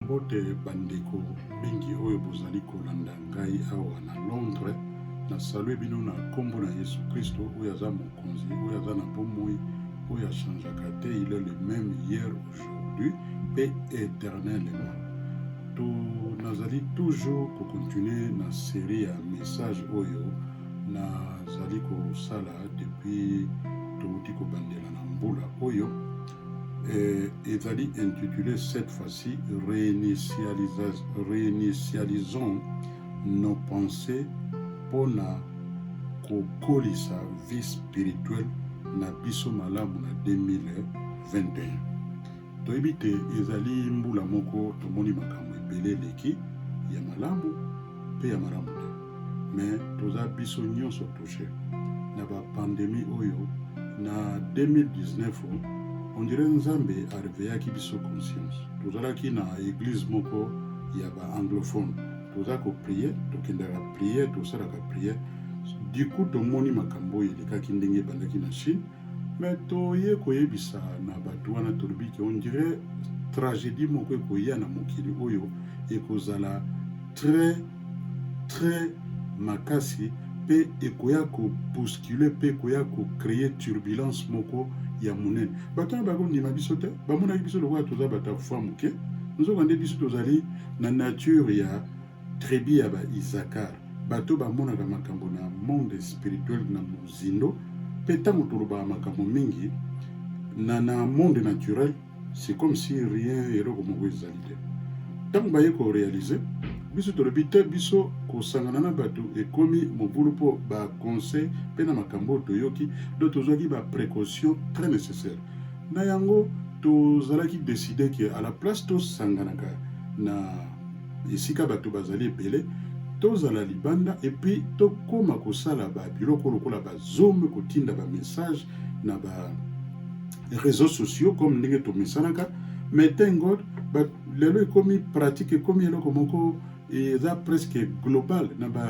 Mbote bandeko mingi oyo bozali kolanda ngai awa na Londres, nasalue bino na nkombo na Yesu Kristo oyo aza mokonzi, oyo aza na bomoi, oyo achangeaka te, il est le même hier, aujourd'hui mpe éternellement. To nazali toujours kokontinue na serie ya message oyo nazali kosala depuis touti kobandela na mbula oyo eh, ezali intitulé cette fois-ci réinitialisons nos pensées mpo na kokolisa vie spirituelle na biso malamu na 2021 toyebi te ezali mbula moko tomoni makambo ebele eleki ya malamu mpe ya malamu te mais toza biso nyonso touche na bapandemi oyo na 2019 on dirait nzambe areveyaki biso conscience tozalaki na eglise moko ya baanglophone toza koprie tokendaka prie tosalaka prie diku tomoni makambo oyo elekaki ndenge ebandaki na chine Mais toye koyebisa na bato wana tolobi ke on dirait tragedie moko ekoya na mokili oyo ekozala très très makasi mpe ekoya kobouscule mpe ekoya kocreye turbulence moko ya monene bato wana bakondima biso te bamonaki biso lokola toza bato ya kufwa moke nzoka nde biso tozali na nature ya Tribu ya ba Isakar, bato bamonaka makambo na monde spirituel na mozindo, pe tango tolobaka makambo mingi na na monde naturel, c'est comme si rien, eloko moko ezali te. Tango baye ko realiser, biso tolobi te biso kosangana na bato ekomi mobulu po ba conseil pe na makambo oyo toyoki, donc tozwaki ba precautions très necessaires. Na yango tozalaki decider que à la place tosanganaka na. esika bato bazali ebele tozala libanda epuis tokóma kosala babiloko lokola bazome kotinda bamessage na ba réseaux sociaux comme ndenge tomesanaka mais thank god lelo ekomi pratique ekomi eloko moko eza presque global na ba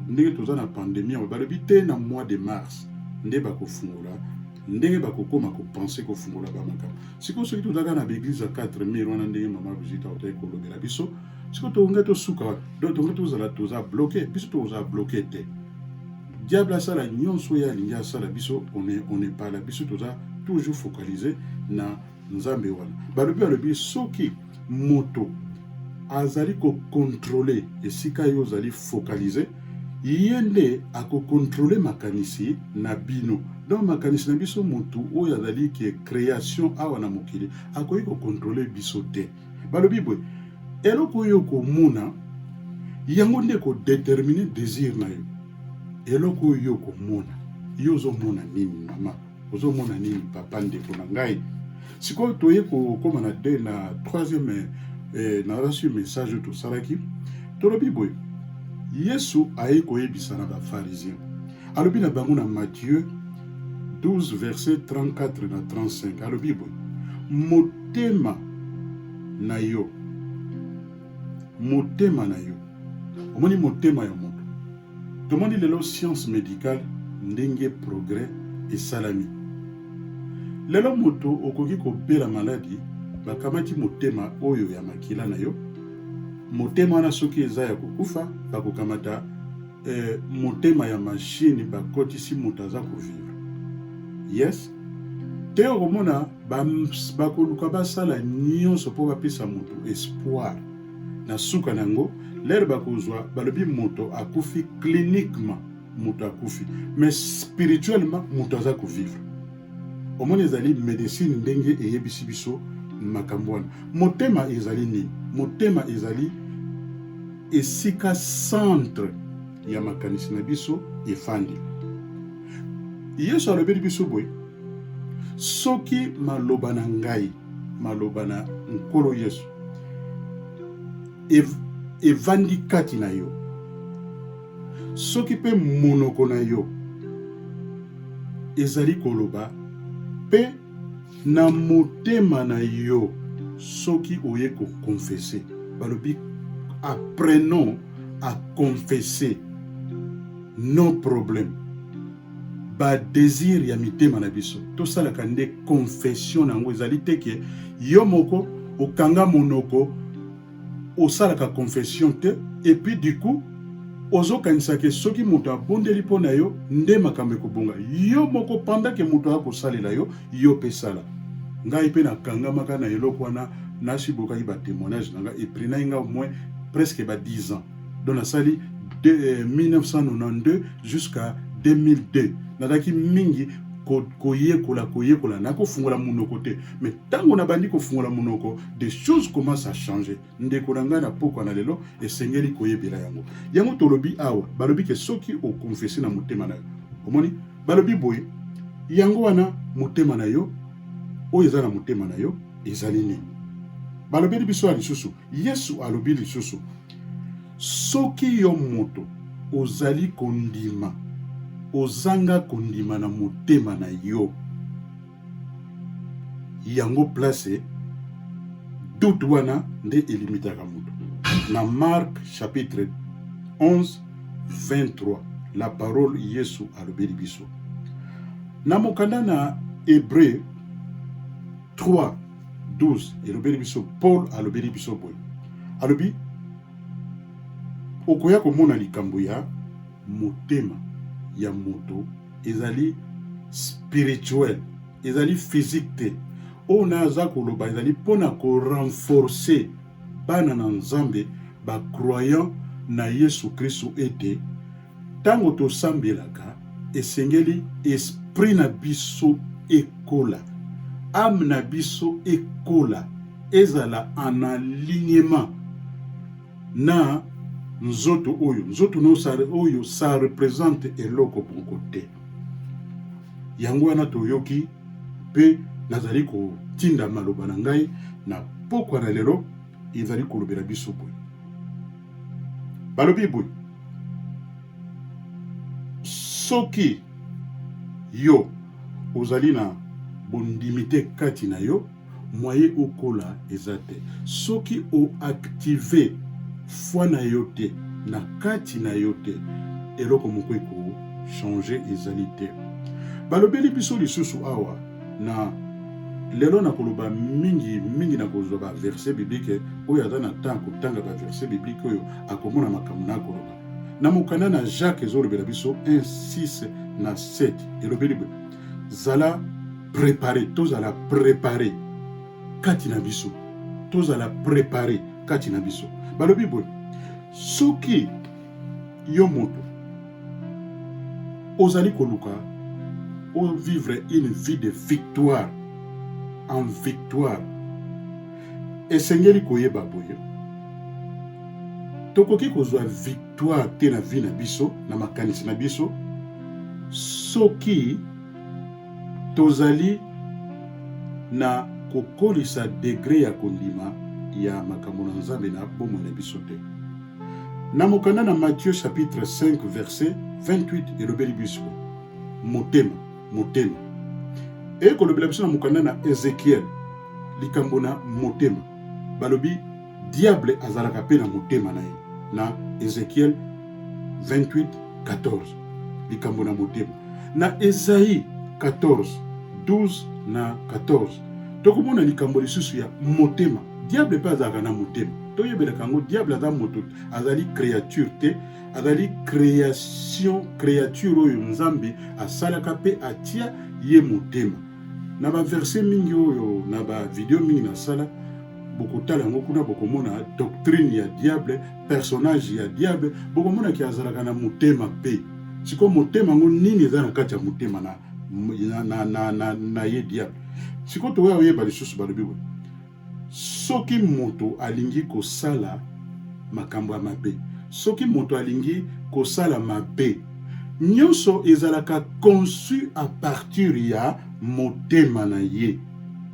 ndenge toza na pandémie yango balobi te na mois de mars nde bakofungola ndenge bakokóma kopense kofungola bamakambo sikoyo soki tozalaka na baeglise ya 4 mire wana ndenge mama brigitte autaki kolobela biso sikoyo tokonga tosuka wapi do tokonga tozala toza bloke biso tokozala bloke te diable asala nyonso oyo alingi asala biso on epala biso toza toujours focalise na nzambe wana balobi balobi soki moto azali kokontrole esika yo ozali focalize ye nde akokontrole makanisi na bino donc makanisi na biso motu oyo azali ke création awa na mokili akoki kokontrole biso te balobi boye eloko oyo okomona yango nde ekodetermine désir na yo eloko oyo okomona yo ozomona nini mama ozomona nini papa ndeko na ngai sikoyo toye kokóma na de na troisième eh, narasi message oyo tosalaki tolobi boye yesu ayei koyebisa na bafarizien alobi na bango na matthieu 12 verset 34 na 35 alobi boye motema na yo motema na yo omoni motema ya moto tomoni lelo science médicale ndenge progrès esalami lelo moto okoki kobela maladi bakamati motema oyo ya makila na yo motema wana soki eza ya kokufa bakokamata eh, motema ya mashini bakotisi moto aza kovivre yes te okomona bakoluka basala nyonso mpo bapesa moto espoir na suka na yango lere bakozwa balobi moto akufi cliniquement moto akufi mais spirituellement moto aza kovivre omoni ezali medecine ndenge eyebisi biso makambo wana motema ezali nini motema ezali esika centre ya makanisi na biso efandi. Yesu alobeli biso boye, soki maloba na ngai, maloba na Nkolo Yesu evandi kati na yo, soki mpe monoko na yo ezali koloba mpe na motema na yo soki oye kokonfese balobi apprenons à confesser nos problèmes badésir ya mitema na biso tosalaka nde confession na yango ezali te ke yo moko okanga monoko osalaka confession te et puis du coup ozokanisa ke soki moto abondeli mpo na yo nde makambo ekobonga yo moko panda ke moto akosalela yo yo mpe sala ngai mpe nakangamaka na eloko wana nasi bokaki batemoignage na ngai eprenai ngai omoi presque ba 10 ans donc nasali de, eh, 1992 jusqu'à 2002 nazalaki mingi koyekola koyekola nakofungola monoko te mais ntango nabandi kofungola monoko de choses commence à changer ndeko na ngai na pokwa na lelo esengeli koyebela yango yango tolobi awa balobi ke soki okonfese na motema na yo omoni balobi boye yango wana motema na yo oyo eza na motema na yo ezali nini balobeli biso ya lisusu yesu alobi lisusu soki yo moto ozali kondima ozanga kondima na motema na yo yango place doute wana nde elimitaka moto na mark chapitre 11 23 la parole yesu alobeli biso na mokanda na hebreu 3 12 elobeli biso paul alobeli biso boye alobi okoya komona likambo ya motema ya moto ezali spirituel ezali physique te oyo na aza koloba ezali mpo na korenforce bana na nzambe bacroyant na yesu kristu ete ntango tosambelaka esengeli esprit na biso ekola ame na biso ekola ezala en alignement na nzoto oyo nzoto no sa oyo sa represente eloko moko te yango wana toyoki mpe nazali kotinda maloba na ngai na pokwa na lelo ezali kolobela biso boye balobi boye soki yo ozali na bondimi te kati na yo moyen okola eza te soki o active foi na yo te na kati na yo te eloko moko eko changer ezali te balobeli biso lisusu awa na lelo nakoloba mingi mingi nakozwa ba verset biblique oyo aza na temps kotanga ba verset biblique oyo akomona makambo nakoloba na mokanda na jacques ezolobela biso 1 6 na 7 elobeli boye zala prepare tozala prepare kati na biso tozala prepare kati na biso balobi boye soki yo moto ozali koluka ovivre une vie de victoire en victoire esengeli koyeba boye tokoki kozwa victoire Toi te na vie na biso na makanisi na biso soki tozali na kokolisa degre ya kondima ya makambo na Nzambe na bomoi na biso te. Na mokanda na Matthieu chapitre 5 verset 28 elobeli biso motema motema ekolobela biso na mokanda na Ezekiel likambo na motema balobi Diable azalaka pe na motema na ye na Ezekiel 28 14 likambo na motema na Esaïe 14 12 na 14 tokomona likambo lisusu ya motema. Diable pe azalaka na motema, toyebelaka yango. Diable aza moto, azali creature te, azali creation, creature oyo Nzambe asalaka pe atia ye motema. Na ba verset mingi oyo na ba video mingi nasala bokotala yango kuna bokomona doctrine ya diable personnage ya diable bokomona ke azalaka na motema mpe sikoyo motema yango nini eza na kati ya motema na, na, na, na, na, na ye diable sikoyo toya oyeba lisusu balobi boye soki moto alingi kosala makambo ya mabe soki moto alingi kosala mabe nyonso ezalaka conçu à partir ya motema na ye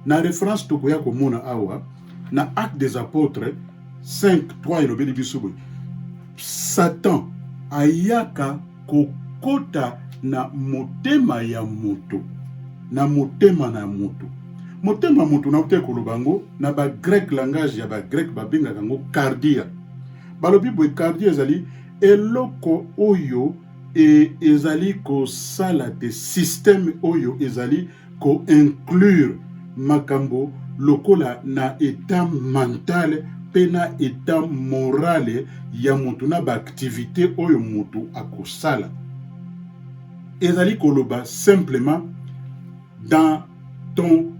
Na reference tokoya komona awa na Acte des Apotres 5 3 elobeli biso boye Satan ayaka kokota na motema ya moto na motema na moto motema moto na te koloba yango na ba grec langage ya ba grec babengaka yango cardia balobi boye cardia ezali eloko oyo e, ezali kosala te systeme oyo ezali ko inclure makambo lokola na etat mental mpe na etat moral ya moto na ba activite oyo moto akosala ezali koloba simplement dans ton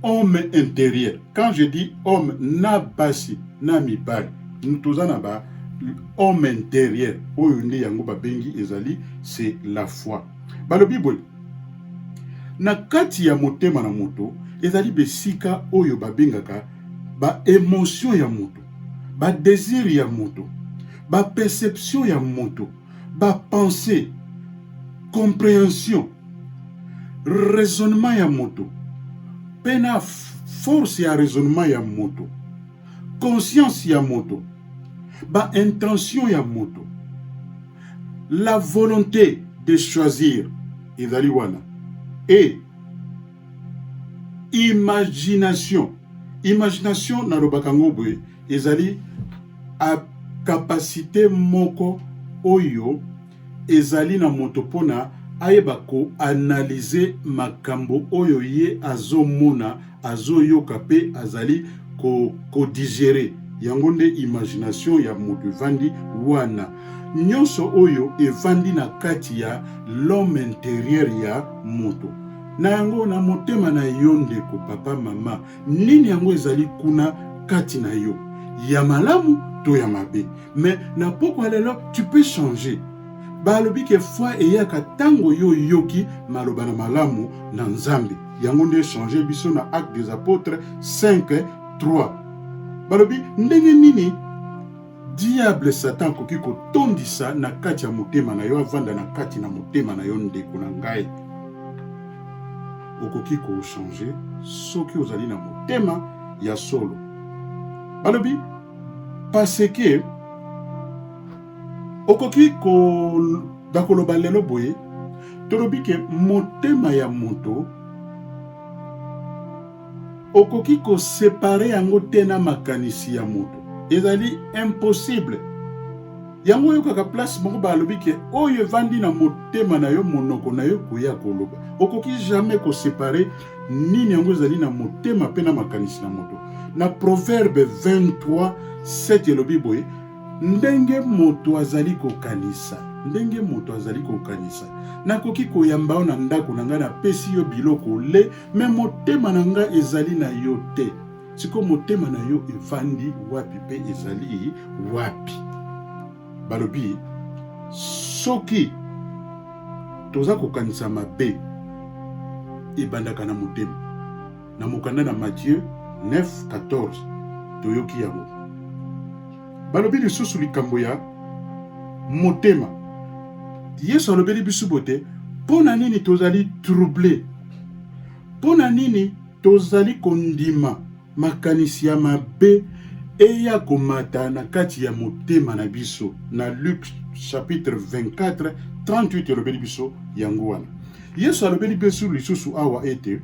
homme intérieur quand je dis homme na basi na mibali toza na ba homme intérieur oyo nde yango babengi ezali c'est la foi balobi boye Na kati ya motema na moto ezali besika oyo babengaka ba emotion ya moto, ba desir ya moto, ba perception ya moto, ba pensee, comprehension, raisonnement ya moto mpe na force ya raisonnement ya moto. conscience ya moto ba intention ya moto la volonté de choisir ezali wana et imagination imagination nalobaka ngo boye ezali capacité moko oyo ezali na moto pona ayeba ko analyse makambo oyo ye azo mona azo yoka pe azali ko ko digerer yango nde imagination ya moto evandi wana nionso oyo evandi na kati ya l'homme interieur ya moto na yango na motema na yo ndeko papa mama nini yango ezali kuna kati na yo ya malamu to ya mabe Mais na pokwa lelo tu peux changer. Balobi ke foi eyaka tango yo yoki maloba na malamu na Nzambe. Yango nde changer biso na Actes des Apôtres 5 3. Balobi ndenge nini diable satan akoki kotondisa na kati ya motema na yo avanda na kati na motema na yo ndeko na ngai okoki kochange soki ozali na motema ya solo balobi parce que okoki bakoloba lelo boye tolobi ke motema ya moto okoki kosepare yango te na makanisi ya moto ezali impossible yango oyokaka place moko balobi ke oyo evandi na motema na yo monoko na yo koya koloba okoki jamais kosepare nini yango ezali na motema mpe na makanisi na moto. Na Proverbe 23 7 elobi boye, ndenge moto azali kokanisa ndenge moto azali kokanisa nakoki koyamba yo na ndako na ngai napesi yo biloko ole me motema na ngai ezali na yo te sikoyo motema na yo efandi wapi mpe ezali wapi balobi soki toza kokanisa mabe ebandaka na motema na mokanda na Matthieu 9:14 toyoki yango balobi lisusu likambo ya motema yesu alobeli biso bote mpo na nini tozali trouble mpo na nini tozali kondima Makanisi ya mabe eya komata na kati ya motema na biso na Luke chapitre 24 38 elobeli biso yango wana. Yesu alobeli biso lisusu awa ete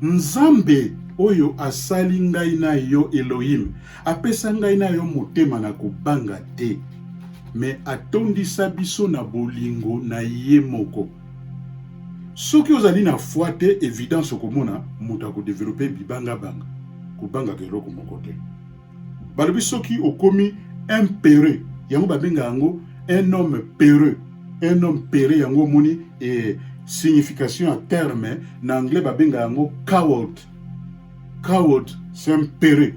Nzambe oyo asali ngai na yo Elohim apesa ngai na yo motema na kobanga te, me atondisa biso na bolingo na ye moko. soki ozali na foi te evidence okomona moto akodevelope bibangabanga kobangaka eloko moko te balobi soki okomi un pereux yango babenga yango un homme pereux un homme pereux yango omoni e signification ya terme na anglais babenga yango coward Coward Sempere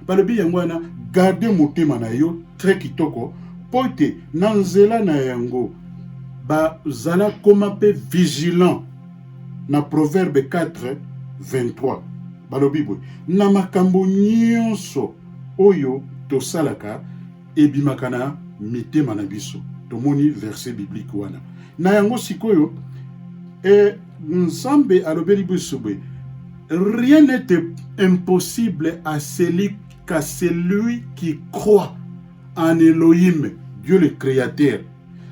balobi yango wana garde motema na yo très kitoko mpo ete na nzela na yango bazala koma mpe vigilant na proverbe 4 23 balobi boye na makambo nyonso oyo tosalaka ebimaka na mitema na biso. Tomoni verse biblique wana. Na yango sikoyo e, Nzambe alobeli biso boye, rien n'est impossible à celui qu'à celui qui croit en Elohim, Dieu le Créateur.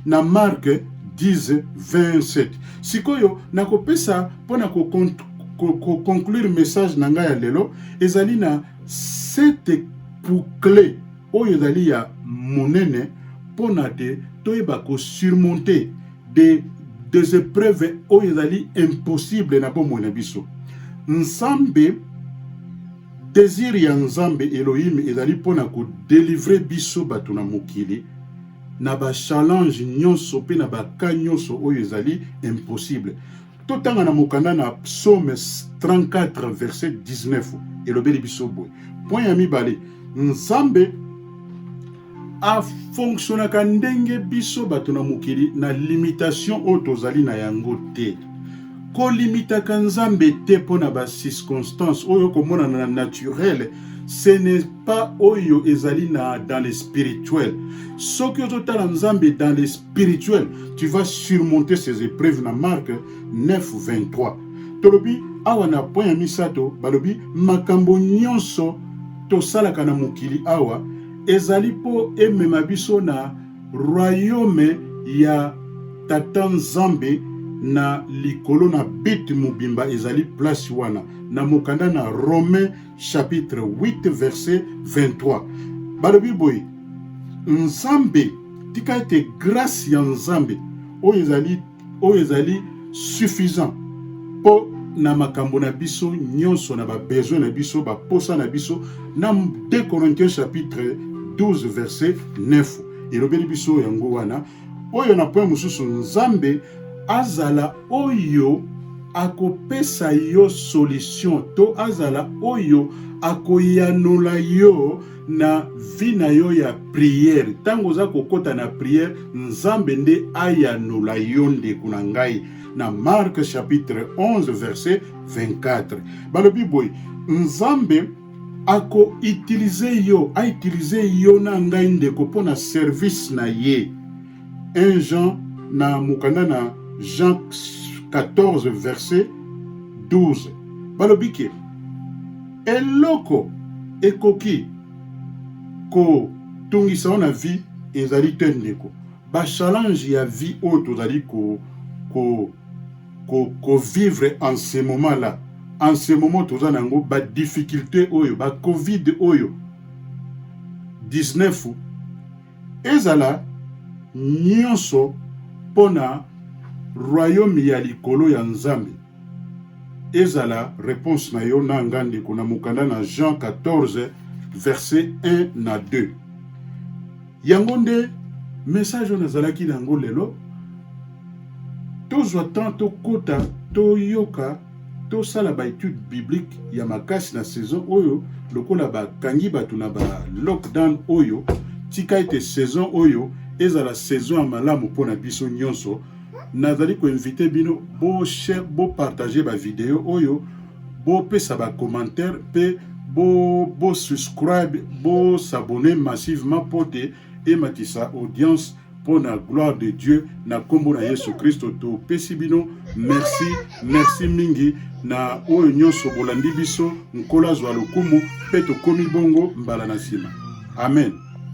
Na Marc 10 27. Sikoyo nakopesa mpo na koconclure message na ngai ya lelo ezali na sete boucle oyo ezali ya monene mpo na te toyeba kosurmonte de des épreuves oyo ezali impossible na bomoi na biso nzambe désir ya nzambe elohim ezali mpo na kodelivre biso bato na mokili na bachallenge nyonso mpe na baka nyonso oyo ezali impossible totanga na mokanda na psaume 34 verset 19 elobeli biso boye point ya mibale nzambe afonksionaka ndenge biso bato na mokili na limitation oyo tozali na yango te kolimitaka nzambe te mpo na bacirconstance oyo komonana na naturele ce n'est pas oyo ezali na dans le spirituel soki ozotala nzambe dans le spirituel tu vas surmonter ces épreuves na marque 9 23 tolobi awa na point ya misato balobi makambo nyonso tosalaka na mokili awa ezali mpo emema biso na royaume ya tata nzambe na likolo na bit mobimba ezali place wana na mokanda na romain chapitre 8 verset 23 balobi boye nzambe tika ete grâce ya nzambe oyo ezali oyo ezali suffisant mpo na makambo na biso nyonso na babesoin na biso baposa na biso na 2 corinthiens chapitre 12 verset 9 elobeli biso yango wana oyo na point mosusu nzambe azala oyo akopesa yo solution to azala oyo akoyanola yo na vie na yo ya priere ntango oza kokɔta na priere nzambe nde ayanola yo ndeko na ngai na marke chapitre 11 verset 24 balobi boye nzambe ako utiliser yo a utiliser yo na ngai ndeko mpo na service na ye 1 Jean na mokanda na Jean 14 verset 12 balobi ke eloko ekoki kotungisa yo na vie ezali te ndeko ba challenge ya vie oyo tozali ko, ko ko, ko vivre en ce moment là en ce moment toza na yango ba difficulté oyo ba covid oyo 19 ezala nyonso mpo na royaume ya likolo ya nzambe ezala réponse na yo na nga ndeko na mokanda na jean 14 verset 1 na 2 yango nde message oyo nazalaki na yango lelo tozwa temps tokota toyoka tosala baetude biblique ya makasi na saison oyo lokola bakangi bato na ba lockdown oyo tika ete saison oyo ezala saison ya malamu mpo na biso nyonso nazali koinvite bino bopartage bavideo oyo bopesa ba commentaire pe bo bo subscribe bo s'abonner massivement pote ematisa audience mpo na gloire de Dieu na nkombo na Yesu Kristo topesi bino merci merci mingi na oyo nyonso bolandi biso nkolo azwa lokumu mpe tokomi bongo mbala na nsima amen